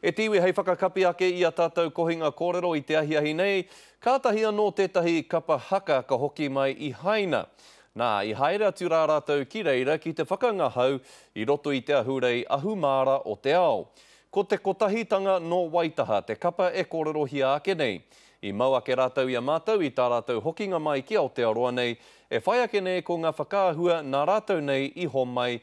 E te iwi hei whakakapi ake i a tatou kohinga korero i te ahiahi nei, katahi anō tetahi kapa haka ka hoki mai i Haina. Na, i haere atu ra ratou ki reira ki te whakangahau i roto i te ahurei ahumaara o te ao. Ko te Kotahitanga no Waitaha te kapa e korerohia ake nei. I mau ake ratou i a matou i ta ratou hokinga mai ki Aotearoa nei, e whai ake nei ko nga whakaahua na ratou nei i homai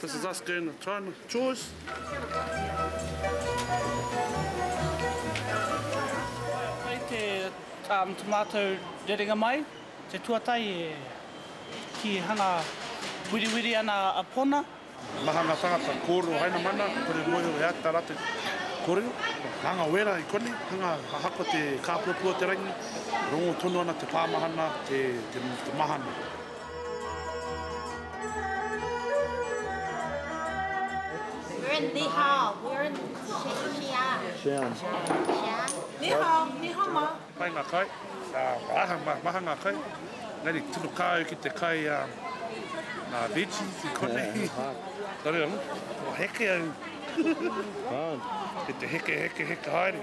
This is us doing the time chores. Kei te um, tomato rerenga mai, te tuatai e ki hanga wiriwiri ana a Pona. Maha nga tangata, kōrero haina mana, kore moe e ata rate kōrero. Hanga wera i koni, hanga hahako te kāpuapua te rangi, rongo tonu ana te pāmahana, te, te, te mahana. We're in Li Hao. We're in Xi'an. Xi'an. Xi'an. Ni hao, ni hao ma. Pai ngā kai, aha, maha ngā kai, engari tino kā au ki te kai a ngā veggies i konei. Nō reira, nō heke au ki te heke, heke, heke haere.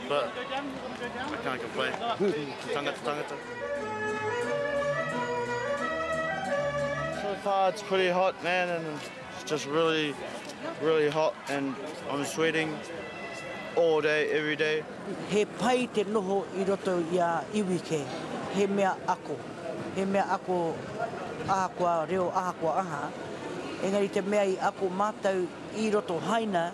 But I can't complain. Tangata, tangata. So far it's pretty hot, man, and it's just really, really hot, and I'm sweating all day, every day. He pai te noho i roto i a iwi kē, he mea ako, he mea ako ahakoa reo, ahakoa aha. Engari te mea i ako mātou i roto haina,